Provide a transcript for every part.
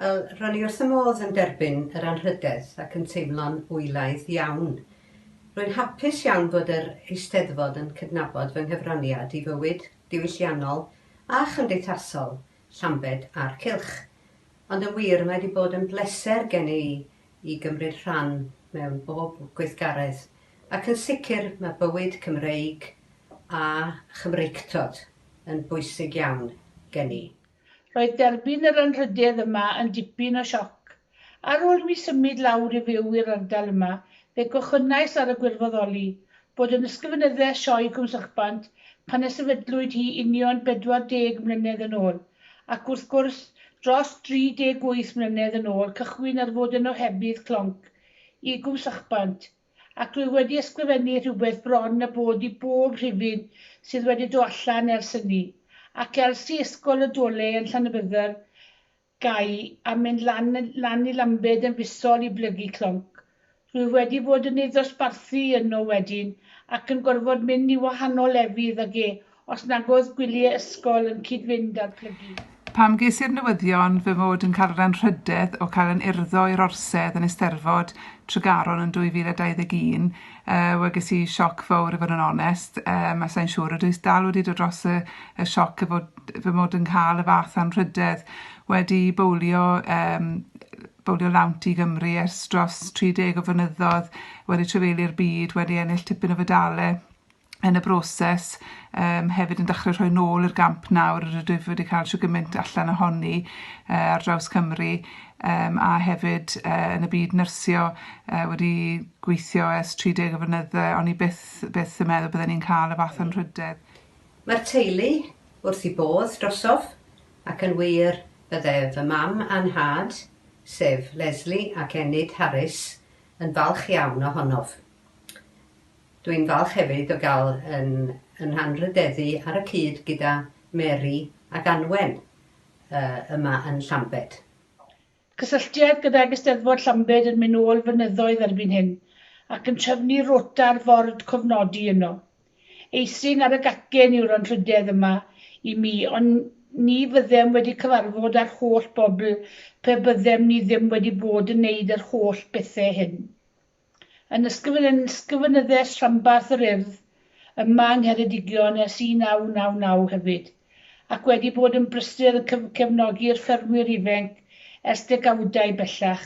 Wel, ro'n i wrth fy modd yn derbyn yr anrhydedd ac yn teimlo'n hwylaidd iawn. Rwy'n hapus iawn bod yr Eisteddfod yn cydnabod fy nghyfraniad i fywyd diwylliannol a chymdeithasol Llambed a'r cylch. Ond yn wir, mae wedi bod yn bleser gen i i gymryd rhan mewn bob gweithgaredd, ac yn sicr mae bywyd Cymreig a Chymreictod yn bwysig iawn gen i. Roedd derbyn yr anrhydedd yma yn dipyn o sioc. Ar ôl i mi symud lawr i fyw i'r ardal yma, fe gochynais ar y gwirfoddoli, bod yn ysgrifenydde Sioe Cwm Sychbant pan y sefydlwyd hi union 40 mlynedd yn ôl, ac wrth gwrs, dros 38 mlynedd yn ôl cychwyn ar fod yn ohebydd clonc i Gwm Sychbant, Ac dwi wedi ysgrifennu rhywbeth bron a bod i bob rhifyn sydd wedi do allan ers hynny. Ac elsi ysgol y dole yn Llanybydder gai a mynd lan lan i Lambed yn fisol i blygu clonc. Rwyf wedi fod yn ei ddosbarthu yno wedyn ac yn gorfod mynd i wahanol lefydd ag e Os nag oedd gwyliau ysgol yn cyd-fynd â'r plygu. Pam ges i'r newyddion fy mod yn cael yr anrhydedd o cael yn urddo i'r Orsedd yn Eisteddfod Tregaron yn 2021, yy, wel ges i sioc fowr i fod yn onest, yym a sai'n siŵr ydw i dal wedi dod dros y y sioc o fod fy mod yn cael y fath anrhydedd wedi bowlio yym bowlio lawnt i Gymru ers dros 30 o flynyddoedd, wedi trefeilio'r byd, wedi ennill tipyn o fedale. yn y broses um, hefyd yn dechrau rhoi nôl i'r gamp nawr yr ydwyf wedi cael siw gymaint allan ohoni uh, ar draws Cymru um, a hefyd uh, yn y byd nyrsio uh, wedi gweithio ers 30 o fynydde ond i byth, byth yn meddwl byddwn ni'n cael y fath o'n rhydedd. Mae'r teulu wrth i bodd drosof ac yn wir bydde fy mam a'n nhad, sef Leslie ac Enid Harris, yn falch iawn ohonof. Dwi'n falch hefyd o gael yn yn rhanrhydeddu ar y cyd gyda Mary ac Anwen yma yn Llambed. Cysylltiad gydag Eisteddfod Llambed yn mynd nôl flynyddoedd erbyn hyn, ac yn trefnu rota ar ford cofnodi yno. Eithin ar y gacen yw'r anrhydedd yma i mi, ond ni fyddem wedi cyfarfod â'r holl bobl pe byddem ni ddim wedi bod yn neud yr holl bethe hyn. yn Ysgrifenyddiaeth Rhanbarth yr Urdd ym Mha Ngheredigion ers 1999 hefyd, ac wedi bod yn brysur yn cefnogi'r ffermwyr ifenc ers degawdau bellach,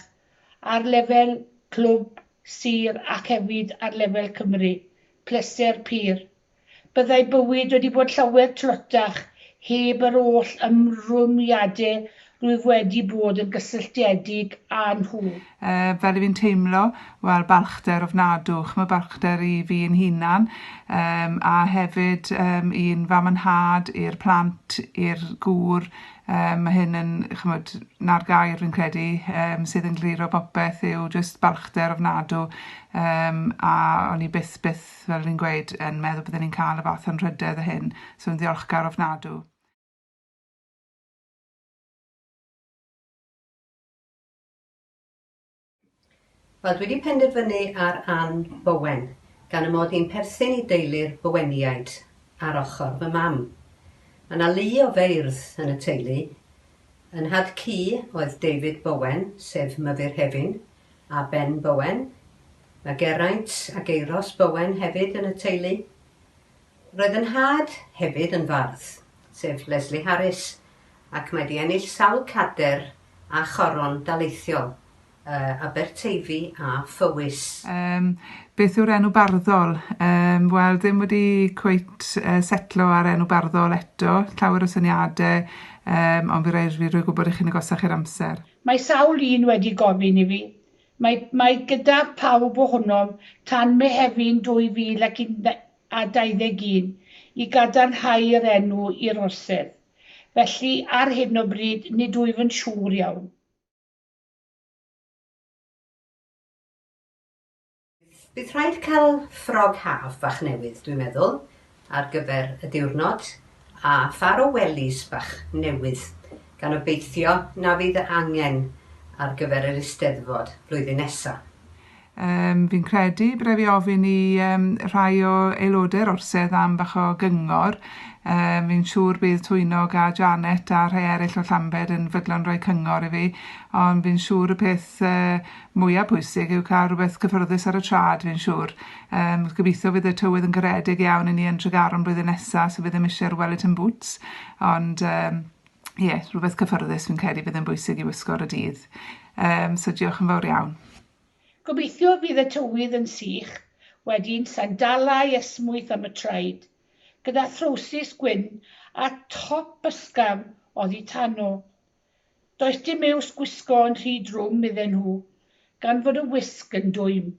ar lefel clwb, sir ac hefyd ar lefel Cymru. Pleser pur. Byddai bywyd wedi bod llawer tlotach heb yr oll ymrwymiadau rwyf wedi bod yn gysylltiedig â nhw. Yy, fel 'y fi'n teimlo, wel, balchder ofnadw. Ch'mod, balchder i fi yn hunan, yym, a hefyd yym i'n fam a nhad, i'r plant, i'r gŵr, yym, ma' hyn yn, ch'mod, 'na'r gair fi'n credu yym sydd yn glir o bopeth yw jyst balchder ofnadw, yym, a o'n i byth, byth byth, fel o'n i'n gweud, yn meddwl bydden ni'n ca'l y fath anrhydedd â hyn, so yn ddiolchgar ofnadw. Wel, dwi wedi penderfynu ar Ann Bowen, gan y mod i'n perthyn i deulu'r Boweniaid ar ochr fy mam. Mae yna lu o feirdd yn y teulu. Yn nhad-cu oedd David Bowen, sef Myfyrhefin, a Ben Bowen. Mae Geraint a Geiros Bowen hefyd yn y teulu. Roedd yn nhad hefyd yn fardd, sef Lesley Harris, ac mae 'di ennill sawl cader a choron daleithiol, yy Aberteifi a Phowys. Yym, beth yw'r enw barddol? Yym, wel, ddim wedi cweit yy setlo ar enw barddol eto, llawer o syniade, yym, ond fi roi- fi rhoi gwybod i chi'n agosach i'r amser. Mae sawl un wedi gofyn i fi. Mae, mae gyda phawb ohonom tan Mehefin 2021 i gadarnhau yr enw i'r orsedd. Felly, ar hyn o bryd, nid wyf yn siŵr iawn. Bydd rhaid cael ffrog haf fach newydd, dwi'n meddwl, ar gyfer y diwrnod, a phar o welis bach newydd, gan obeithio na fydd fy angen ar gyfer yr Eisteddfod flwyddyn nesa. Yym, fi'n credu byddai fi ofyn i yym rhai o aelodau'r orsedd am bach o gyngor. Yym, fi'n siŵr bydd Twynog a Janet a rhai eraill o Llambed yn fydlon rhoi cyngor i fi, ond fi'n siŵr y peth yy mwya pwysig yw cael rhywbeth cyffyrddus ar y traed fi'n siŵr. Yym gobeithio fydd y tywydd yn garedig iawn i ni yn Tregaron blwyddyn nesa so byddem isie'r wellington boots ond yym ie rhywbeth cyffyrddus fi'n credu bydd yn bwysig i wisgo ar y dydd. Yym so diolch yn fawr iawn. Gobeithio fydd y tywydd yn sych, wedyn sandalau esmwyth am y traed, gyda throwsus gwyn a top ysgafn oddi tano. Does dim iws gwisgo yn rhy drwm iddyn nhw, gan fod y wisg yn dwym.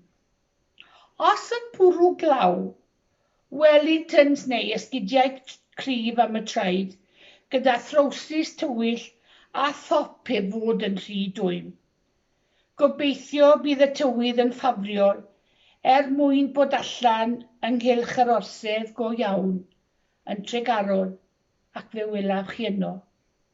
Os yn bwrw glaw, Wellingtons neu esgidiau cryf am y traed, gyda throwsus tywyll a thop heb fod yn rhy dwym. Gobeithio bydd y tywydd yn ffafriol er mwyn bod allan ynghylch yr orsedd go iawn yn Tregaron ac fe welaf chi yno.